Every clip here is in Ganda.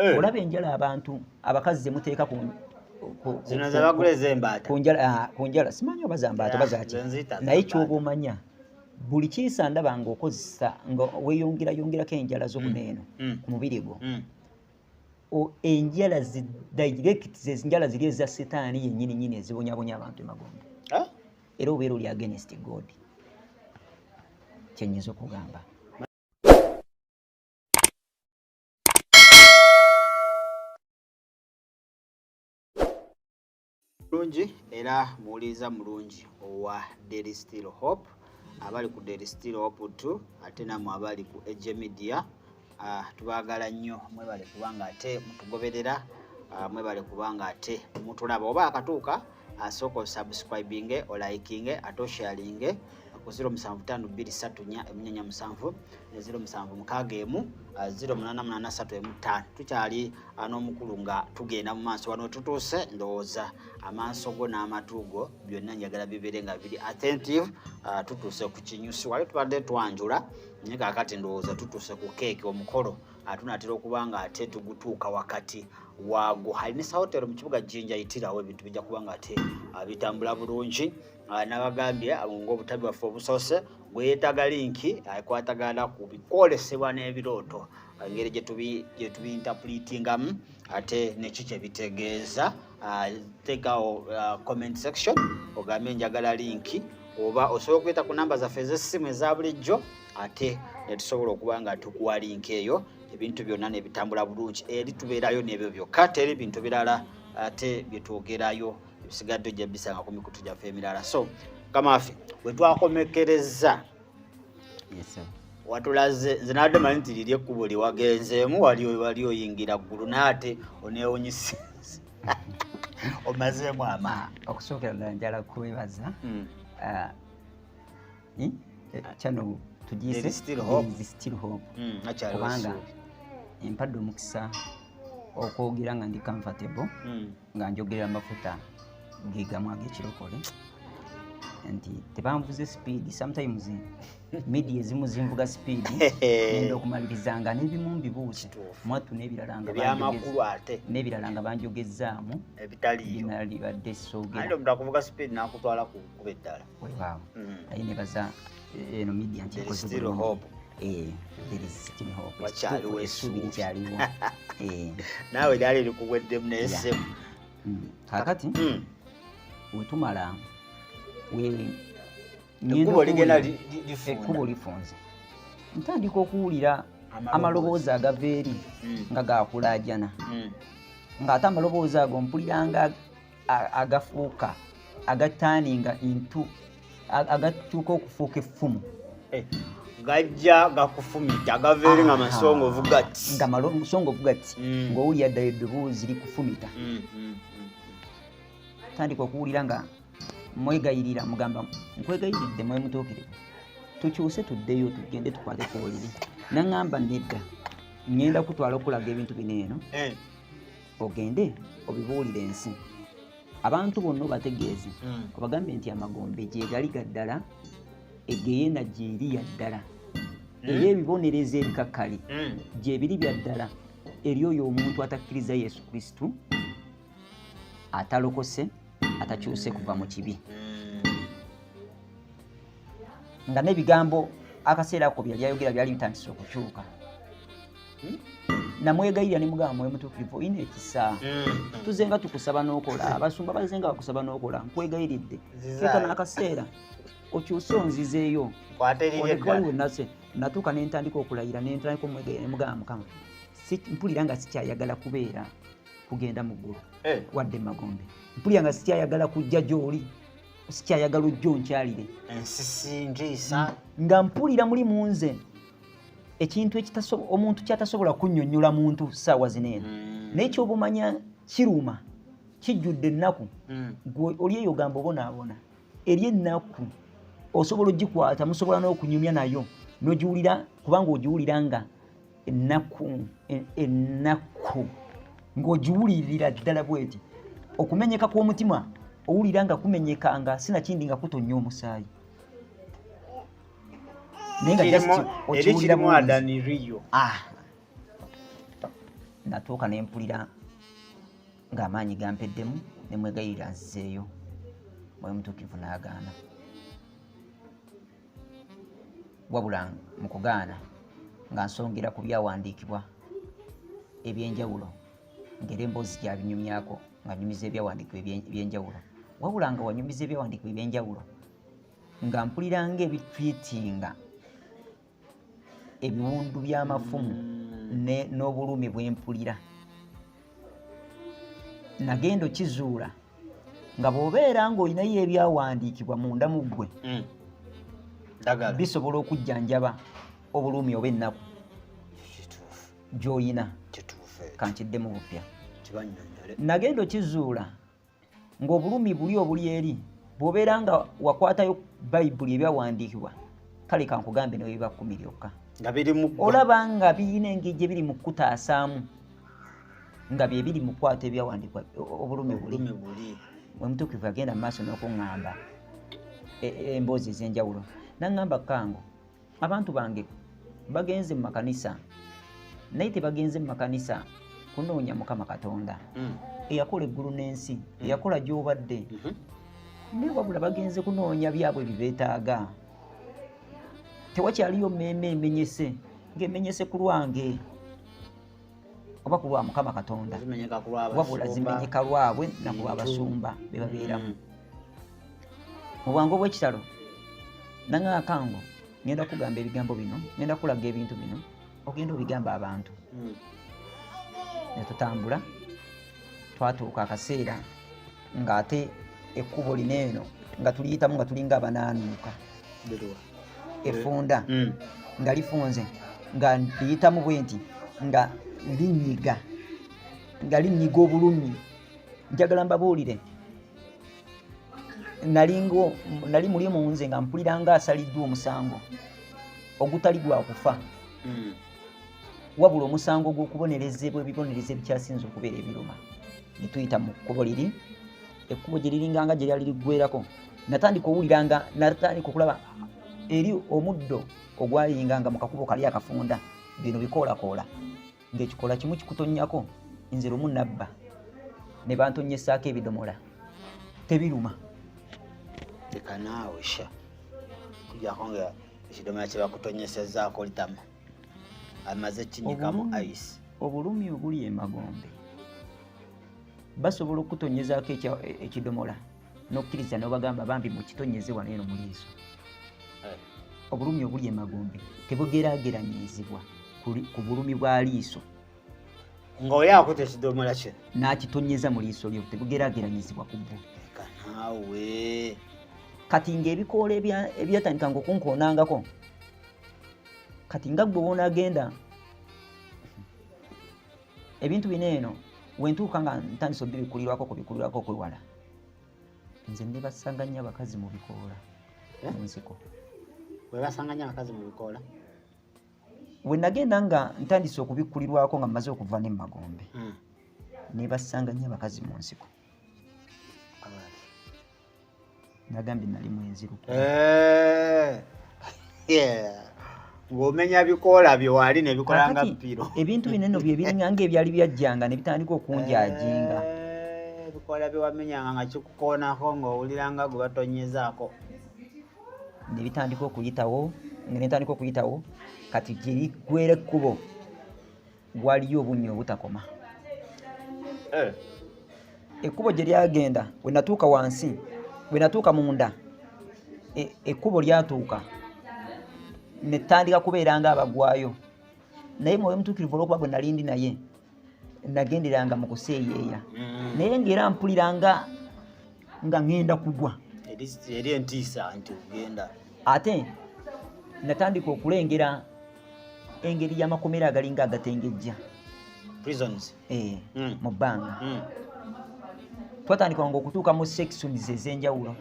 eh. olaba enjala abantu abakazi zemuteeka ku kunjala ah, simanyi oba zambaata oba zaki naye kyoba omanya buli kiisa ndaba nga okozesa nga weyongerayongerako enjala zomuneeno mm, mm. ku mubiri gwo mm. enjala direct enjala ziri eza sitaani yenyini nyini ezibonyabonya abantu emagombe era obeera oli against god kyenyinza okugamba mulungi era muwuliriza mulungi owa daily still hope abali ku daily still hope t ate namwe abali ku age media Ah, tubagala nnyo mwebale kubanga ate mutugoberera ah, mwebale kubanga ate mutulaba oba akatuuka asooka ah, osubscribinge olikinge ate osharinge ku 075234 emunyanya musanvu ne 07 mukaaga emu 0883 emu ttaano tukyali n'omukulu nga tugenda mu maaso wano tutuuse ndowooza amaaso go n'amatu go byonna njagala bibeere nga biri attentive tutuuse ku kinyusi wali tubadde twanjula naye kakati ndowooza tutuse ku keeki omukolo atunatera okuba nga ate tugutuuka wakati waago halina esahotero mu kibuga jinja yitirawo ebintu bijja kuba nga ate ah, bitambula bulungi ah, nabagambye ah, ngaobutabi bwaffe obusoose gweyetaaga linki ekwatagana ku bikwolesebwa n'ebirooto engeri gyetubiyintapulitingamu ate neki kyebitegeeza uh, take our uh, comment section ogambe njagala linki oba osobola okuyita ku namba zaffe ez'essimu eza bulijjo ate netusobola okuba nga tukuwa linki eyo ebintu byonna nebitambula bulungi eri tubeerayo nebyo byokka teri bintu birala ate byetwogerayo ebisigadde ojja bisanga ku mikutu gyaffe emirala so kamafe wetwakomekereza watulaze nze nadde manyi nti liri ekkubo lyewagenzeemu wali wali oyingira ggulu naate oneewunyisa omazeemu ama okusookera ddala njala kwebaza hmm. ah, eh, eh, kyano tugisekubanga hmm, empadde omukisa okwogera nga ndi comfortable hmm. nga njogera amafuta gegamu agekirokole nti tebanvuze sipiidi sometimes media ezimu zinvuga sipiidi enda okumaliriza nga nebimu mbibuuse mwattu nebirala nga nebirala nga banjogezzaamu ebitaliyo binalibadde sogeaomuntu akuvuga sipiidi nakutwala kukuba eddala wewaawo mm. naye nebaza eh, eno media nti esuubi eh, likyaliwo eh. naawe lyali likuweddemu nesemu mm. kakati mm. wetumala ekkubo lifunze ntandika okuwulira amaloboozi agava eri nga gakulajana ngaate amaloboozi ago mpuliranga agafuuka agataaninga intu agatuuka okufuuka effumu eh, gajja gakufumita gavaeri nga masongovu gati nga masongovu gati mm. ngaowulira ddala eddoboozi likufumita mm, mm, tandika okuwulira nga mwegayirira mugamba nkwegayiridde mwemutuukire tukyuse tuddeyo tugende tukwate kuwulire naŋamba nedda ŋenda kutwala okulaga ebintu bino eno eh. ogende obibuulire ensi abantu bonna obategeeze hmm. obagambye nti amagombe gyegali gaddala egeyena gyeri yaddala hmm. era ebibonerezo ebikakkali hmm. gyebiri byaddala eri oyo omuntu atakkiriza yesu kristu atalokose atakyuse kuva mu kibi nga n'ebigambo akaseera ko byali ayogera byali bitandise okukyuka hmm? namwegayirira ne mugamba mwoyo mutukuvu olina ekisa hmm. tuze nga tukusaba n'okola abasumba baze nga bakusaba n'okola nkwegayiridde keka n'akaseera okyuse onzizeeyo onekwaliwenase natuuka ne ntandika okulayira ne ntandika omwegayira ne mugamba mukama mpulira nga sikyayagala kubeera kugenda mu ggulu eh. wadde mu magombe mpulira nga sikyayagala kujja gy'oli sikyayagala ojja onkyalire nga mpulira muli mu nze ekintu omuntu kyatasobola kunyonyola muntu saawa zino eno mm. naye kyobumanya kiruma kijjudde ennaku mm. gwe oli eyo gamba obonaabona eri ennaku osobola ogikwata musobola n'okunyumya nayo nogiwulira kubanga ogiwulira nga ennaku ennaku ng'ogiwulirira ddala bweti okumenyeka kw'omutima owulira nga kumenyeka nga sinakindi nga kutonnya omusaayi naye nga just okiwulira mu adani riyo ah natuuka ne mpulira ng'amaanyi gampeddemu ne mwegayirira nzizeeyo mwoyo mutuukivu n'agaana wabula mu kugaana nga nsongera ku byawandiikibwa ebyenjawulo ngera emboozi gyabinyumyako nga nyumiza ebyawandiikibwa ebyenjawulo wabula nga wanyumiza ebyawandiikibwa ebyenjawulo nga mpulira nga ebitwitinga ebiwundu by'amafumu n'obulumi bwe mpulira nagenda okizuula nga bw'obeera ng'olinayo ebyawandiikibwa munda mu ggwe mm. bisobola okujjanjaba obulumi oba ennaku gy'olina kankidde mu bupya nagenda okizuula ng'obulumi buli obuli eri bw'obeera nga wakwatayo bayibuli ebyawandiikibwa kale kankugambe ne webiba kkumi lyokka olaba nga birina engeri gye biri mu kukutaasaamu nga bye biri mu kwata ebyawandiikibwa obulumi buli omutuukivu agenda mu maaso n'okuŋŋamba e, e, emboozi ez'enjawulo naŋŋamba kango abantu bange bagenze mu makanisa naye tebagenze mu makanisa kunoonya mukama katonda mm. eyakola eggulu n'ensi mm. eyakola gyobadde mm-hmm. naye wabula bagenze kunoonya byabwe bibeetaaga tewakyaliyo mmeeme emenyese ng'emenyese ku lwange oba ku lwa mukama katonda wabula zimenyeka lwabwe nakulwa abasumba bebabeeramu mm. mu bwangu obwekitalo nanga akango ngenda kugamba ebigambo bino ngenda kulaga ebintu bino ogenda obigamba abantu mm. netutambula twatuuka akaseera ngaate ekkubo lino eno nga tuliyitamu nga tulinga abanaanuuka efunda mm. nga lifunze nga liyitamu bwe nti nga linyiga nga linyiga obulumi njagala mbabuulire nalingo nali muli munze nga mpulira nga asaliddwa omusango ogutali gwa kufa mm. wabula omusango gw'okubonerezebwa ebibonerezo ebikyasinza okubeera ebiruma netuyita mu kkubo liri ekkubo gye liringanga gye lyali liggwerako natandika owuliranga natandika okulaba eri omuddo ogwayinganga mu kakubo kali akafunda bino bikoolakoola ng'ekikoola kimu kikutonnyako nze lumu nabba ne bantonnyesaako ebidomola tebiruma leka naawe sha kujako nga ekidomola kye bakutonyesezaako litama amaze kinyikamu ice obulumi obuli emagombe basobola okutonyezaako ekidomola nokkiriza nobagamba bambi mukitonyeze wano eno muliiso eh. obulumi obuli emagombe tebugerageranyizibwa ku bulumi bwa liiso nga oyo akuta ekidomola kye nakitonyeza mu liiso lyo tebugerageranyizibwa ku bwo kanawe kati ngaebikoola ebyatandika nga okunkoonangako kati nga gwe wonagenda ebintu bino eno wentuuka nga ntandisa obibikulirwako kubikulirwako okwewala nze nebasanga nnyo abakazi mu bikoola eh? mu nsiko webasanga nnyo abakazi mu bikoola we nagenda nga ntandise okubikulirwako nga mmaze okuva ne mumagombe hmm. nebasanga nnyo abakazi mu nsiko nagambye nali mwenziru eh, ng'omenya bikoola byewali nebikola nga mpiro ebintu bineno byebiringa nga ebyali byajjanga nebitandika okunjajinga eh, ebikoola byewamenyanga nga kikukoonako ng'owulira nga gwe batonyezaako nebitandika okuyitawo nga netandika okuyitawo kati gyeriggwera ekkubo waliyo obunnya obutakoma eh. ekkubo gye lyagenda we natuuka wansi we natuuka munda e, ekkubo lyatuuka ne tutandika kubeera nga abagwayo naye mwoyo mutuukirivu olwokuba gwe nali ndi naye nagenderanga mu kuseeyeeya mm. naye ngaera mpulira nga nga ŋŋenda kugwa eri entiisa nti ogenda ate natandika okulengera engeri y'amakomera agalinga agatengejja prisons eh, mm. mu bbanga mm. twatandika nga okutuuka mu sections ez'enjawulo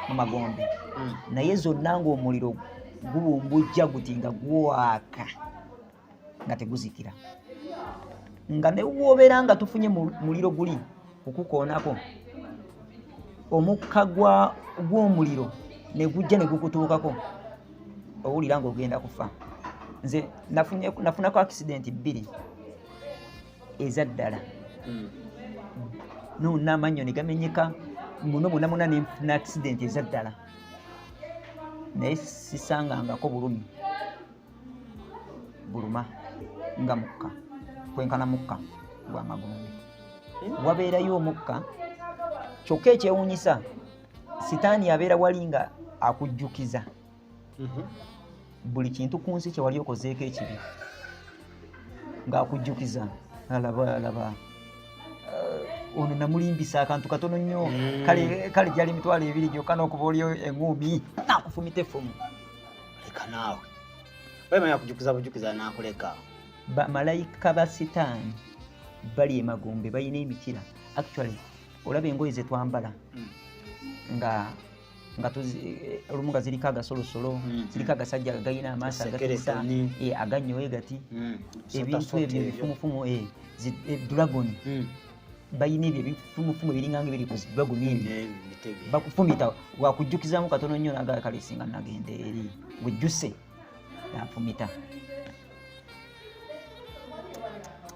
mu magombe mm. naye zonna ng'omuliro gubumbujja guti nga gwaka nga teguzikira nga newobera nga tufunye muliro guli okukoonako omukka gw'omuliro negujja negukutuukako owulira nga ogenda kufa nze nafunako akisidenti bbiri eza ddala hmm. nonamanyo negamenyeka muno munamuna nefuna akisidenti eza ddala naye sisangangako bulumi buluma nga mukka kwenkana mukka gwa magombe wabeerayo omukka kyokka ekyewunyisa sitaani abeera wali nga akujjukiza mhm. buli kintu ku nsi kyewali okozeeko ekibi ng'akujjukiza alaba alaba eh, ono namulimbisa akantu katono nnyo mm. kale gyali emitwalo ebiri gyokka n'okuba oli enguumi nakufumita effumu leka naawe wemanya kujukiza bujukiza nakuleka bamalayika ba sitaani bali emagombe balina emikira actually olaba engoye zetwambala hmm. nga nga eh, olumu nga ziriko agasolosolo hmm. ziriko agasajja galina amaaso agatuta eh, aganyowe gati hmm. ebintu ebyo ebifumufumu eh, dragon balina ebyo ebifumufumu ebiringa nga ebiri ku zibagu nini bakufumita wakujjukizamu katono nnyo nagala kale singa nagenda eri wejjuse nanfumita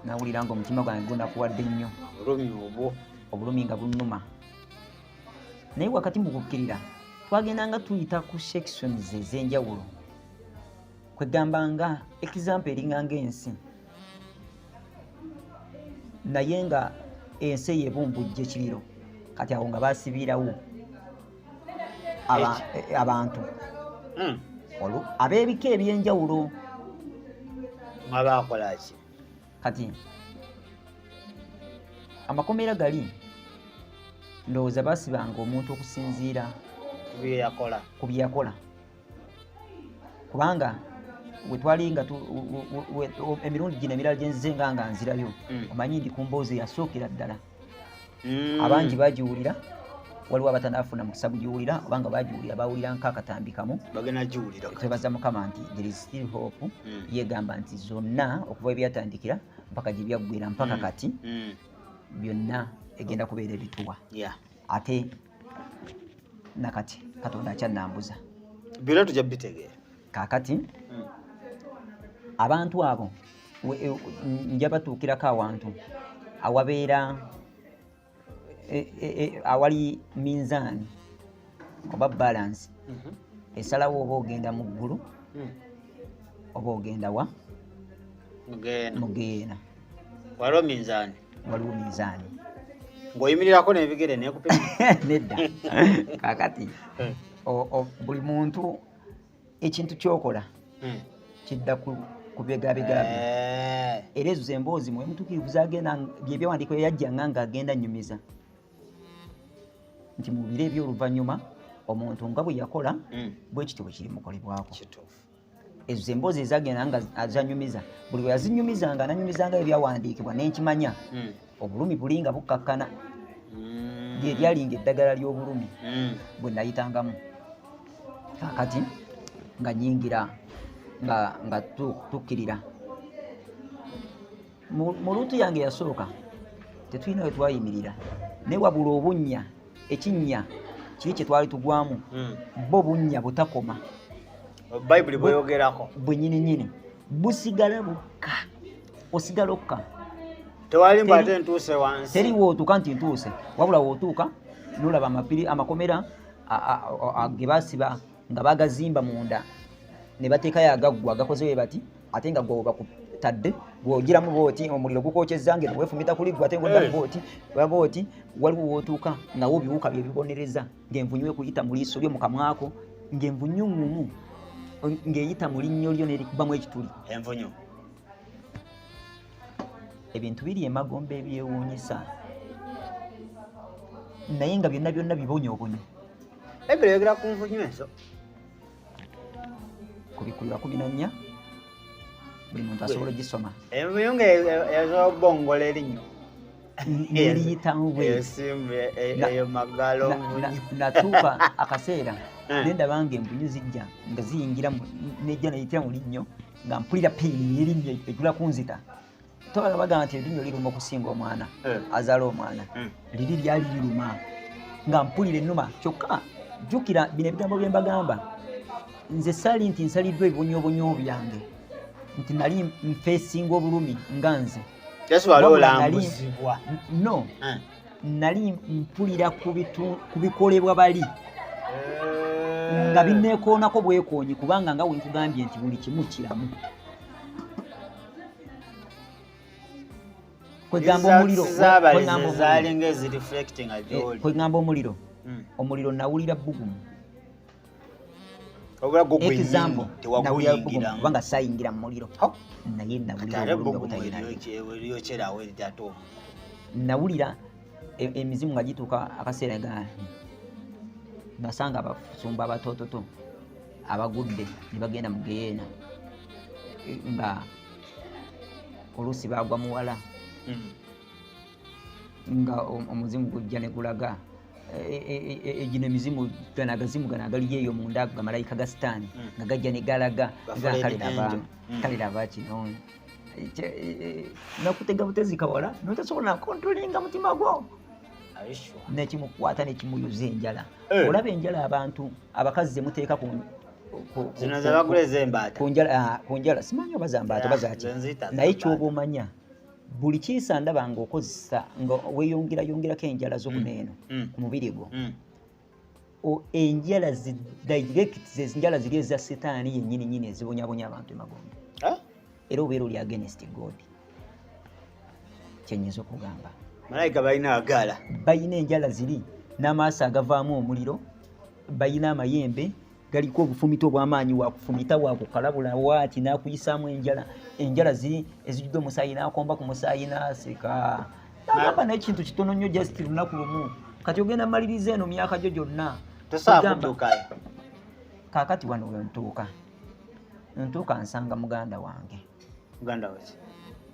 nawulira nga omutima gwange gunakuwadde nnyo obulumi nga bunuma naye wakati mu kukkirira twagenda nga tuyita ku sections ez'enjawulo kwegamba nga example eringa nga ensi naye nga ensi eyo ebumbujja ekiriro kati awo nga basibiirawo abantu hmm. olwo ab'ebika ebyenjawulo abakolaki kati amakomera gali ndowooza basibanga omuntu okusinziira ku byeyakola kubanga wetwali nga emirundi gino emirala gyenzize nga nga nzirayo mm. omanyi ndi ku mboozi eyasookera ddala mm. abangi bagiwulira waliwo abatanafuna mukisa gugiwulira obanga bagiwulira bawulira nkakatambi kamu twebaza mukama nti there is still hope mm. yegamba nti zonna okuva ebyatandikira mpaka gyebyaggwera mpaka kati byonna egenda kubeera ebituwa ate nakati katonda akyannambuza byona tujja bitegeera kakati hmm. abantu abo e, njabatuukirako awantu awabeera e, e, awali minzaani oba balansi mhm. esalawo oba ogenda mu ggulu hmm. oba ogenda wa mugeena waliwo minzaani waliwo minzaani ng'oyimirirako n'ebigere nekupima nedda kakati eh. buli muntu ekintu kyokola hmm. kidda kubegabegabye eh. era ezo zemboozi mwe mutukirivu zagenda byebyawandiiko yajja nga nga agenda nyumiza nti mubire ebyoluvannyuma omuntu nga bwe yakola hmm. bwekityo bwe kiri mukolebwako ezo zemboozi ezagenda nga zanyumiza buli bwe yazinyumizanga nanyumizanga ebyawandiikibwa nenkimanya hmm. obulumi buli nga bukkakkana hmm. lye lyalinga eddagala ly'obulumi hmm. bwe nayitangamu kakati nga nyingira nga tukkirira mu luutu yange yasooka tetulina we twayimirira naye wabula obunnya ekinnya kiri kye twali tugwamu hmm. bo bunnya butakoma bayibuli bweyogerako bwenyini nyini busigala bukka osigala okka tewali mba ate ntuuse wansi teri wootuuka nti ntuuse wabula wootuuka nolaba amapiri amakomera ge basiba nga bagazimba munda ne bateekayo agaggwa gakoze we bati ate nga gwe bakutadde bw'ogiramu booti omuliro gukwokyezza ngeno weefumita kuli gwe ate ngaoddamu eh. booti oba booti waliwo wootuuka nawo biwuka bye bibonereza ng'envunyu ekuyita mu liiso lyo mu kamwako ng'envunyu ngumu ng'eyita mu linnyo lyo nerikubamu ekituli envunyu ebintu biri emagomba ebyewuunyisa naye nga byonna byonna bibonyobonyo Ebyo yogera ku nvunyu ezo. Kubikulira kumi na nnya buli muntu asobola ogisoma. Envunyu nga ez'obongola erinnyo. Eriyitamu bweyo magalo natuuka akaseera eh. ne ndaba nga envunyu zijja nga ziyingira nejja neyitira mu linnyo nga mpulira peyini erinnyo egula kunzita. tobala bagamba nti erinnyo liruma okusinga omwana eh. azaala omwana eh. liri lyali liruma nga mpulira ennuma kyokka jjukira bino ebigambo bye mbagamba nze sali nti nsaliddwa ebibonyobonyo byange nti nali nfeesinga obulumi nga nze no eh. nali mpulira ku bikolebwa bali nga binneekoonako bwekoonyi kubanga nga wenkugambye nti buli kimu kiramu kwegamba omuliro kwegamba eh, omuliro hmm. omuliro nawulira bugumu example nawulira bugumu kubanga sayingira mu muliro naye nawulira e, emizimu nga gituuka akaseera ga nasanga abasumba abatototo abagudde ne bagenda mu geyeena nga oluusi baagwa muwala hmm. nga omuzimu gujja ne gulaga egino e, e, e, emizimu gano agazimu gano agaliyo eyo munda ago gamalayika ga sitaani hmm. nga gajja ne galaga kale laba hmm. kino nakutega butezi kawala notasobola nakontrolinga mutima gwo nekimukwata nekimuyuza enjala eh. olaba enjala abantu abakazi zemuteeka ku ah, njala simanyi oba zambaata oba zaki naye kyoba omanya buli kiisa ndaba ngaokozesa nga weyongerayongerako enjala zomuneeno mm, mm. ku mubiri gwo mm. enjala direct zezinjala ziri eza setaani yenyini nyini ezibonyabonya abantu emagombe era obeera oli against god kyenyinza okugamba malayika balina agaala balina enjala ziri n'amaaso agavaamu omuliro balina amayembe galiko obufumita obw'amaanyi wakufumita wakukalabula waaki n'akuyisaamu enjala enjala ezijjudde omusaayi n'akomba ku musaayi n'aseka nagamba naye kintu kitono nnyo just lunaku lumu kati ogenda maliriza eno myaka gyo gyonna kakati wano wentuuka ntuuka nsanga muganda wange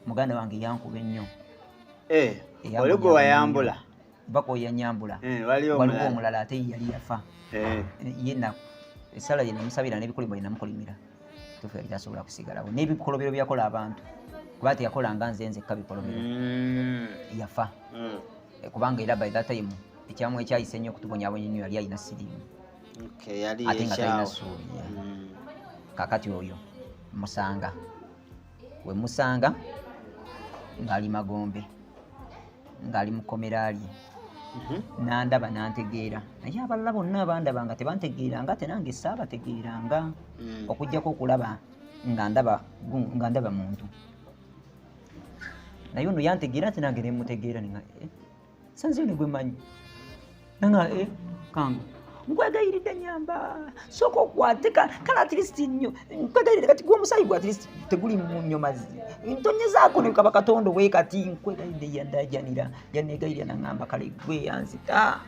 muganda wange yankuba ennyo eh, oli gwe wayambula bakoya nyambula eh, waliwo omulala ate yali yafa eh. eh, yena esala yena musabira nebikolimo yena mukolimira tufe yali tasobola kusigalawo nebikolobero byakola abantu kuba ati yakola nga nze nzekka bikolobero mm. yafa mm. kubanga era by that time ekyamu ekyayise nnyo okutubonyabonya nyo yali alina sirimu ate nga talina suubi mm. kakati oyo musanga we musanga ng'ali magombe ng'ali mu kkomera lye mhm. nandaba nantegeera naye abalala bonna abandaba nga tebantegeera nga te nange saabategeera nga mm. okugyako okulaba nga ndaba nga ndaba muntu naye ono yantegeera nti nange nemutegeera eh, sanzini gwe manyi nanga eh kangu nkwegayiride nyamba soka okwate kale atlist nyo nkwegayiride kati gwe omusayi gwe atlist teguli munyo mazi ntonyezako nekaba katonda owe kati nkwegayiride yandajanira yanegayirira nangamba kale gwe yanzita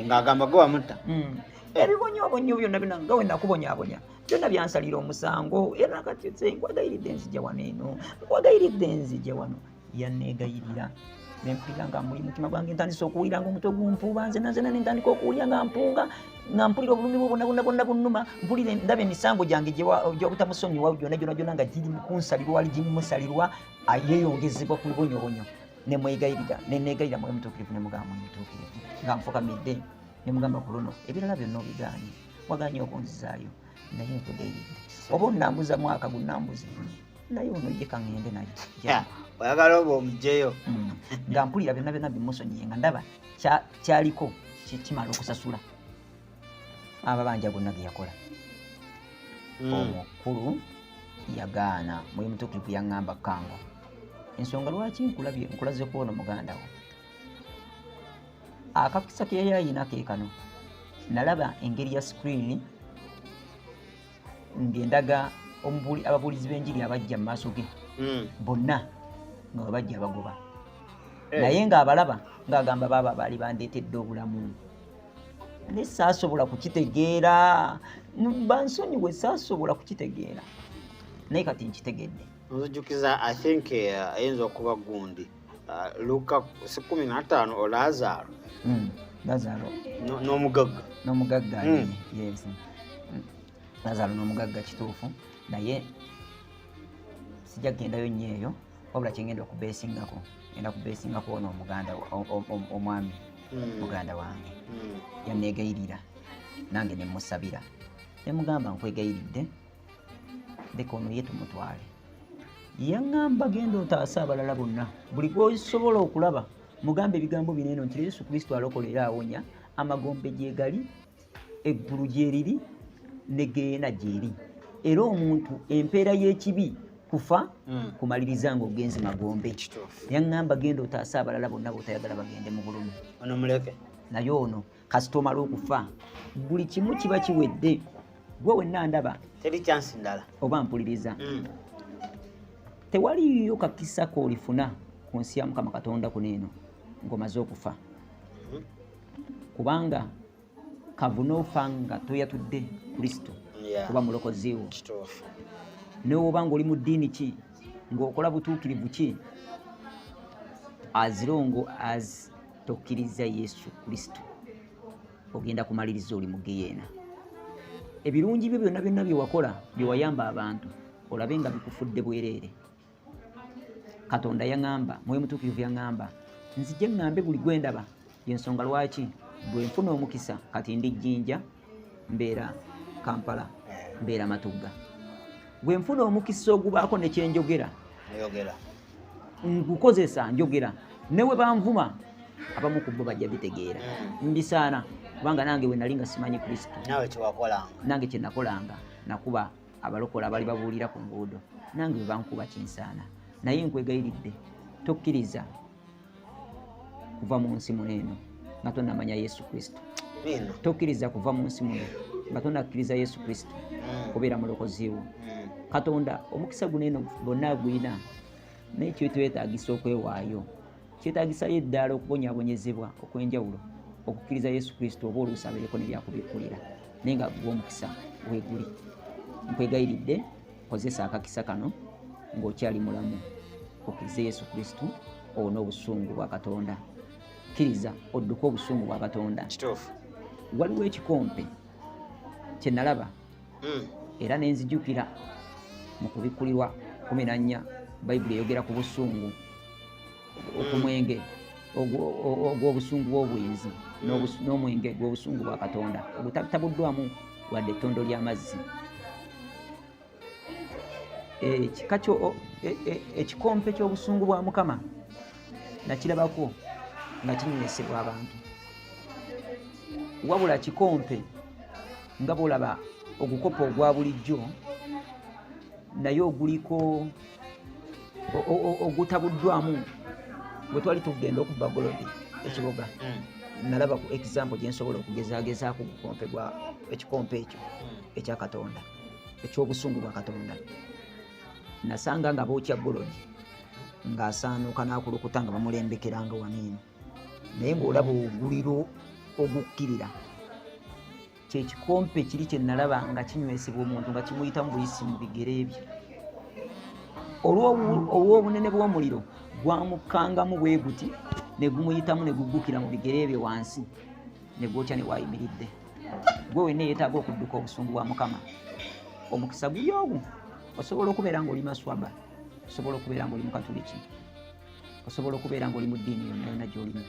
nga agamba gwe wamutta hmm. ebibonyobonyo byonna bino nga wenakubonyabonya byonna byansalira omusango era nakati nkwegayiride nzija wano eno nkwegayiride nzija wano yanneegayirira ne mpulira nga muli mutima gwange ntandise okuwulira nga omutwe gumpuuba nze nazena ne ntandika okuwulira nga mpunga nga mpulira obulumi bwo bonna bonna bonna bunnuma mpulire ndaba emisango gyange gyobutamusonyiwa gyona gyona gyona nga giri kunsalirwa wali gimusalirwa ayeyongezebwa ku bibonyobonyo ne mwegayirira ne neegayira mwoyo mutuukirivu ne mugamba mwoyo mutuukirivu nga nfukamidde ne mugamba ku luno ebirala byonna obigaanye wagaanye okunzizaayo naye nkudeyi oba onambuza mwaka gunambuza naye ono ye kaŋende naye oyagala oba omujeyo mm. nga mpulira byonna byonna bimusonyiye nga ndaba kyaliko kimala okusasula amabanja gonna geyakola mm. omukulu yagaana muli mutukulivu yaŋŋamba kanga ensonga lwaki nkulaze kwono muganda wo akakisa ke yali alina ke kano nalaba engeri ya sikiriini ng'endaga ababuulizi b'enjiri abajja mu maaso ge hmm. bonna nga webajja bagoba eh. naye ng'abalaba ng'agamba baaba baali bandeetedde obulamu ne saasobola kukitegeera bansonyiwe saasobola kukitegeera naye kati nkitegedde nzujukiza i think eh, ayinza okuba gundi Ah, luka si kumi na ttaano o oh, lazaaro hmm, lazaaro n'omugagga n'omugagga hmm. yes hmm. lazaaro n'omugagga kituufu naye sijja kugendayo nnyo eyo wabula kyengenda okubeesingako enda kubeesingako ono omuganda omwami muganda wange yanneegayirira nange ne musabira ne mugamba nkwegayiridde leka ono ye tumutwale yaŋŋamba genda otaase abalala bonna buli gwosobola okulaba mugamba ebigambo bino eno nti yesu kristo alokola era awonya amagombe gyegali eggulu gyeriri ne geena gyeri era omuntu empeera y'ekibi kufa mm. kumaliriza nga ogenzi magombe yaŋŋamba genda otaase abalala bonna botayagala bagende mu bulumi naye ono kasita omala okufa buli kimu kiba kiwedde gwe wenna ndaba teri kyansi ndala oba mpuliriza mm. tewaliyo kakisa koolifuna ku nsi ya mukama katonda kuno eno ng'omaze okufa mm-hmm. kubanga kavuna ofa nga toyatudde kristo oba mulokoziwo newoba ngaoli mu ddiini ki ng'okola butuukirivu ki azirongo as tokkirizza yesu kristo ogenda kumaliriza oli mu geyeena ebirungi byo byonna byonna byewakola byewayamba abantu olabe nga bikufudde bwereere katonda yaŋamba mwoyo mutuukirivu yaŋamba nzije ŋŋambe buli gwendaba yensonga lwaki bwe nfuna omukisa kati ndi jjinja mbeera kampala mbeera matugga bwe nfuna omukisa ogubaako nekyenjogera ngukozesa njogera newe banvuma abamu ku bo bajja bitegeera hmm. mbisaana kubanga nange we nali nga simanyi kristo nange kyenakolanga nakuba abalokola abali babuulira ku nguudo nange webankuba kinsaana naye nkwegayiridde tokkiriza kuva mu nsi muno eno nga tonamanya yesu kristo tokkiriza kuva mu nsi muno nga tonakkiriza yesu kristo mm. kubeera mulokoziwo mm. katonda omukisa guno eno bonna gwina naye kyetwetagisa okwewaayo kyetagisayo eddaala okubonyabonyezebwa okwenjawulo okukkiriza yesu kristo oba oluusabeereko nebyakubikkulira naye nga gwe omukisa weguli nkwegayiridde Kozesa akakisa kano ng'okyali mulamu okkirize Yesu Kristo owone obusungu bwa Katonda. Kkiriza odduke obusungu bwa Katonda. Kituufu. Waliwo ekikompe kye nalaba hmm. era ne nzijukira mu kubikkulirwa kumi na nnya Bayibuli eyogera ku busungu. okumwenge ogw'obusungu bw'obwenzi n'omwenge gw'obusungu bwa katonda ogutabuddwamu wadde ettondo ly'amazzi ekika e, e, ekikompe ky'obusungu bwa mukama nakirabako nga kinywesebwa abantu wabula kikompe nga bwolaba ogukopa ogwa bulijjo naye oguliko ogutabuddwamu bwe twali tugenda okubba golodi ekibuga mm. nalaba ku example gye nsobola okugezagezaako gukompe gwa ekikompe ekyo mm. ekya katonda ekyobusungu bwa katonda nasanga nga bookya golodi ng'asaanuuka n'akulukuta nga bamulembekeranga waniino naye ng'olaba oguliro ogukkirira kyekikompe kiri kyenalaba nga kinywesebwa omuntu nga kimuyitamu buyisi mu bigere bye olw'obunene bw'omuliro gwamukkangamu bwe guti ne gumuyitamu ne guggukira mu bigere bye wansi ne gwokya ne waayimiridde gwe wenna eyeetaaga okudduka obusungu bwa mukama omukisa guli ogwo osobola okubeera ng'oli maswaba osobola okubeera ng'oli mukatuliki osobola okubeera ngaoli mu ddiini yonna yonna gyolimu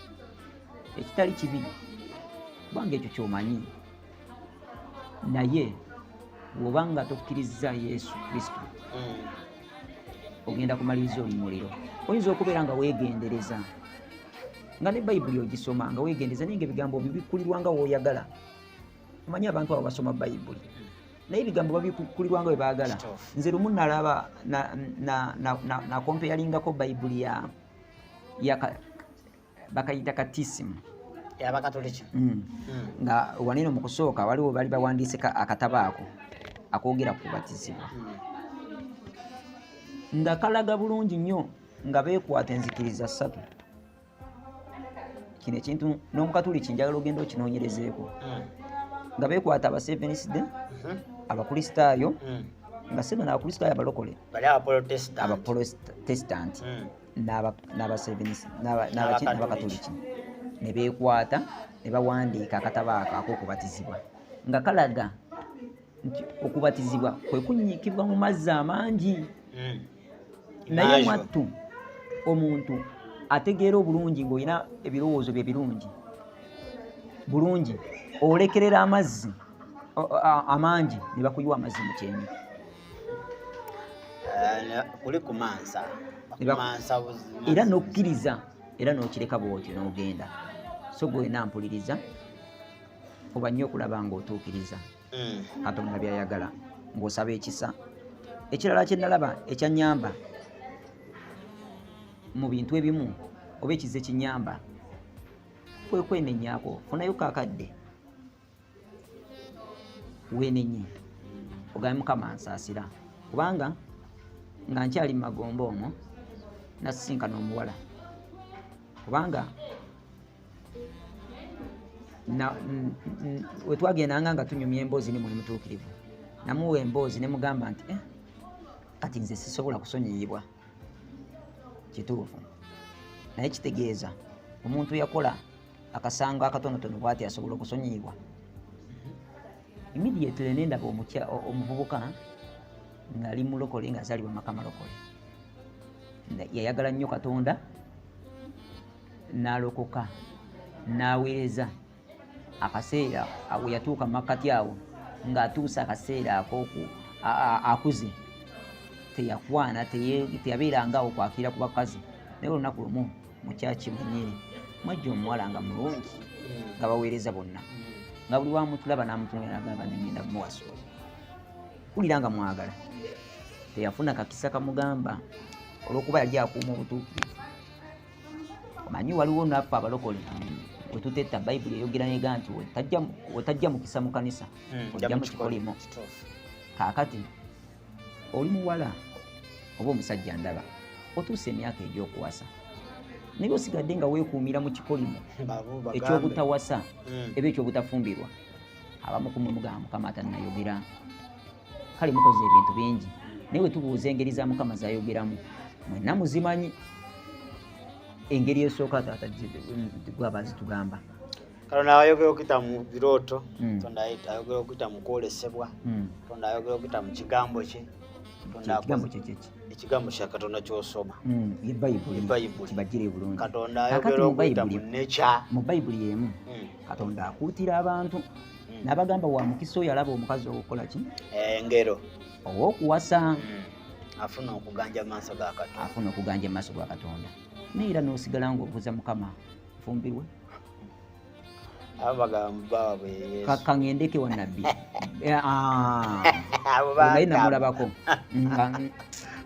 ekitali kibi kubanga ekyo kyomanyi naye woba nga tokkirizza yesu kristo mm. ogenda kumaliriza oli muliro oyinza okubeera nga wegendereza nga ne bayibuli ogisoma nga wegendereza naye nga ebigambo byo bikkulirwa nga woyagala omanyi abantu abo basoma bayibuli naye ebigambo babikukulirwa nga bwe baagala nze lumu nalaba nakompeyalingako bayibuli ya bakayita katisimu abakatoliki mm. mm. nga waneno mu kusooka waliwo bali bawandiise akatabo ako akoogera ku batizibwa mm. nga kalaga bulungi nnyo nga beekwata enzikiriza ssatu kino ekintu n'omukatuliki njagala ogenda okinoonyerezeeko hmm. nga beekwata abasevenisde hmm. abakristaayo hmm. nga sena nabakristaayo abalokole abaprotesitanti n'abakatuliki ne beekwata ne bawandiika akatabo ako ak'okubatizibwa nga kalaga nti okubatizibwa kwe kunyiikibwa mu mazzi amangi hmm. naye mwattu omuntu ategeera obulungi ng'olina ebirowoozo bye birungi bulungi olekerera amazzi amangi ne bakuyiwa amazzi mu kyenyi eh, kuli kumansa era n'okkiriza era n'okireka bwotyo n'ogenda so gwena mpuliriza fuba nnyo okulaba ng'otuukiriza mm. katonda byayagala ng'osaba ekisa ekirala kye nalaba ekyanyamba mu bintu ebimu oba ekize kinyamba kwe kwenenyako funayo kakadde wenenye ogambe mukama nsaasira kubanga nga nkyali mu magombo omwo nasisinkana omuwala kubanga wetwagendanga nga tunyumya emboozi ni muli mutuukirivu namuwa emboozi ne mugamba nti eh, kati nze sisobola kusonyiyibwa kituufu naye kitegeeza omuntu yakola akasango akatonotono bwati asobola okusonyiyibwa immediately nendaba omuvubuka ngali mulokole nga azalibwa maka malokole yayagala nnyo katonda n'alokoka n'aweereza akaseera awo yatuuka makkati awo ng'atuuse akaseera akooku akuze teyakwana teyabeerangawo kwakira ku bakazi naye olunaku lumu mukyaki mwenyini mwajja omuwala nga mulungi nga baweereza bonna nga buli wamutulaba namutunagamba nengenda kumuwasa kulira nga mwagala teyafuna kakisa kamugamba olwokuba yali akuuma obutuukirivu manyi waliwo naffe abalokole wetutetta bayibuli eyogera nega nti wetajja mukisa mu kanisa hmm, ojja mu kikolimo kaakati oli muwala oba omusajja ndaba otuusa emyaka egyokuwasa naye osigadde nga wekuumira mu kikolimo ekyobutawasa hmm. eba ekyobutafumbirwa abamukumwe mugamba mukama atanayogera kale mukoze ebintu bingi naye wetubuuza engeri za mukama zayogeramu mwena muzimanyi engeri esooka taata gwaba zitugamba kalo nayogera okuyita mu birooto hmm. tonda ayogera okuyita mu kwolesebwa hmm. tonda ayogera okuyita mu kigambo kye ekigambo kyekyeki ekigambo kya katonda kyosoma hmm, ebayibulibagire bulungi katonda ayogera okuyita mu nekya mu bayibuli emu katonda akuutira abantu hmm. nabagamba wa mukisa oyo alaba omukazi owokukola ki eh, ngero owokuwasa hmm. afuna okuganja maaso ga katonda afuna okuganja maaso ga katonda naye era nosigala nga obuza mukama nfumbirwe kangendeke wa nabbi eh, ah. naye namulabako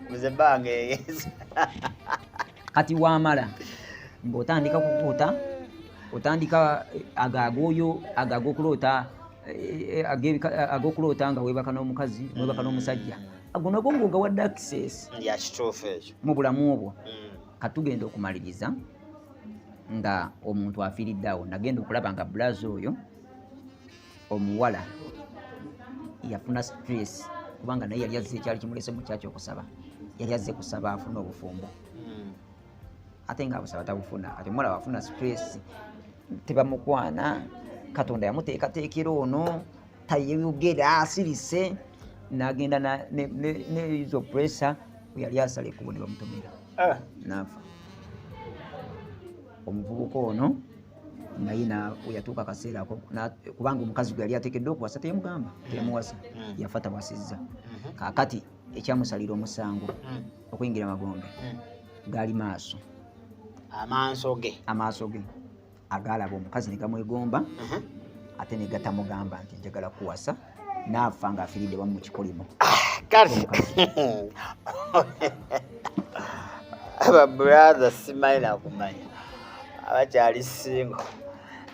nze bange kati wamala ng'otandika kukuuta otandika eh, agagooyo agagokuloota eh, eh, agokuloota nga webaka n'omukazi webaka n'omusajja ago nago ngoga wadde access yakituufu ekyo mu bulamu obwo mm. katugenda okumaliriza nga omuntu afiiridde awo nagenda okulaba nga bulazi oyo omuwala yafuna stress kubanga naye yali azze ekyali kimulese mu kyaki okusaba yali azze kusaba afuna obufumbo hmm. ate nga abusaba tabufuna ati omuwala wafuna stress tebamukwana katonda yamuteekateekera ono tayeyogera asirise nagenda nezo pressure yali asala ekubo ne bamutomera eh. nafa omuvubuka ono naye weyatuuka akaseera ako kubanga omukazi gwe yali atekeddwa okuwasa teyamugamba teyamuwasa hmm. yafa tawasizza hmm. kakati ekyamusalira omusango hmm. okuyingira magombe gaali maaso amaaso ge amaaso ge agaalaba omukazi negamwegomba uh-huh. ate negatamugamba nti njagala kuwasa n'afa nga afiridde wamu mu kikolimo kale ababuratha simanyi nakumanya abakyali singo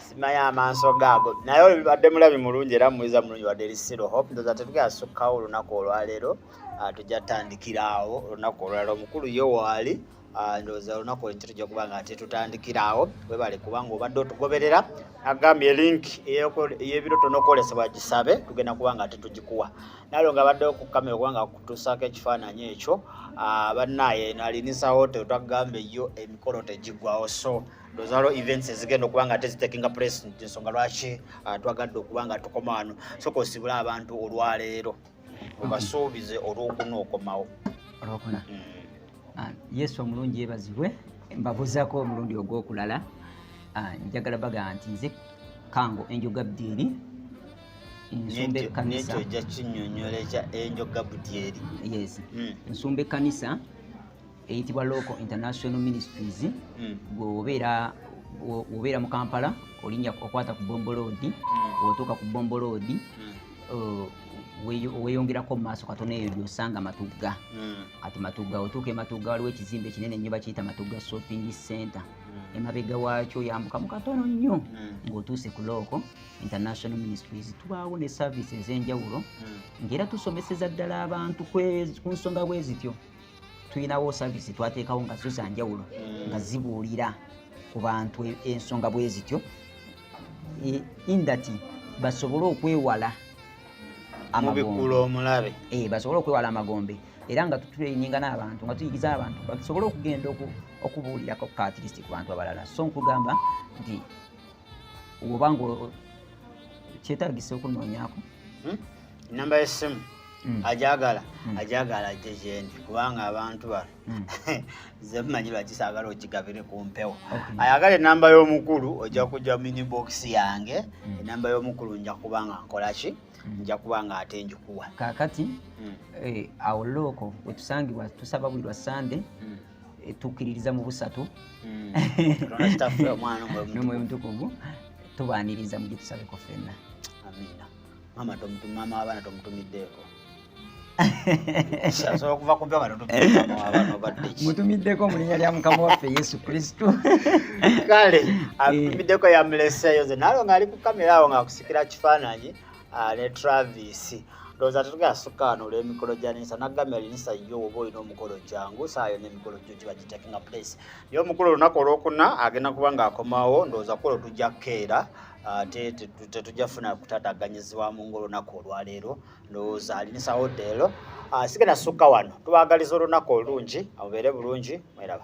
simanyi amaaso gaago naye oyo bibadde mulabi mulungi era muyiza mulungi wadde lisiro hope ndoza tetukyasukkawo olunaku olwaleero ah, tujja tutandikiraawo olunaku olwaleero omukulu ye waali Ah, ndowooza olunaku olukyo tujja kuba nga ate tutandikira awo webale kubanga obadde otugoberera agambye link eyebiro tonokwolesebwa gisabe tugenda kuba nga ate tugikuwa nalo nga abadde okukamera okuba nga kutusaako ekifaananyi ekyo ah, bannaye nalinisa hotel twagamba eyo emikolo tegigwawo so ndozalo events ezigenda okuba nga tezitekinga president ensonga lwaki ah, twagadde okuba nga tukoma wano soka osibula abantu olwaleero obasuubize olwokuna okomawo olwokuna mm. ah, yesu omulungi yebazibwe mbabuzako omulundi ogwokulala ah, njagala baga nti nze kango enjoga bdyeri nsumba ekkanisa yes mm. nsumba ekkanisa eyitibwa local international ministries hmm. gweobeera obeera mu kampala olinya okwata ku bomboloodi hmm. otuuka ku bomboloodi hmm. uh, weyongerako mumaaso katono eyo gyosanga matugga kati matugga otuuka ematugga waliwo ekizimba ekinene nnyo bakiyita matugga shopping center emabega waakyo yambuka mu katono nnyo ngaotuuse ku looko international ministries tubaawo ne service ez'enjawulo ngaera tusomeseza ddala abantu ku nsonga bwe zityo tulinawo service twateekawo nga zo zanjawulo mm. nga zibuulira ku bantu e, ensonga bwe zityo e, indati basobole okwewala amabikula omulabe e, basobole okwewala amagombe era nga tutuleyininga n'abantu nga tuyigiza abantu basobole okugenda okubuulirako katirisi ku bantu abalala so nkugamba nti oba nga kyetagisa okunoonyako hmm? enamba yessimu hmm. ajagala hmm. ajagala ajje gyendi kubanga abantu bano zemumanyi lwaki saagala okigabire ku mpewo ayagala enamba y'omukulu ojja kujja minibox yange enamba y'omukulu nja kuba nga nkolaki nja kuba nga ate njikuwa kakati eh, awo looko wetusangibwa tusaba buli lwa sande tukkiririza mu busatu hmm. nomwoyo mutukuvu tubaniriza mu gyetusabeko fenna amiina mama mama wabana tomutumiddeeko mutumiddeko mu linnya lya mukama waffe yesu kristu kale atumiddeko yamuleseeyo ze naalo ng'ali ku kamera awo ng'akusikira kifaananyi ah, ne travis ndowooza tetugenda sukka wano olw'emikolo gya ninsa nagambye alinisa yo oba olina omukolo jangu saayo n'emikolo gyo giba gitakinga place ye omukulu olunaku olwokuna agenda kuba ng'akomawo ndowooza kulo tujja kukeera ate tetujja funa kutataganyiziwa mu ngaolunaku olwaleero ndowooza alinisa odde ero ah, sigenda sukka wano tubagaliza olunaku olulungi amubeere bulungi mweraba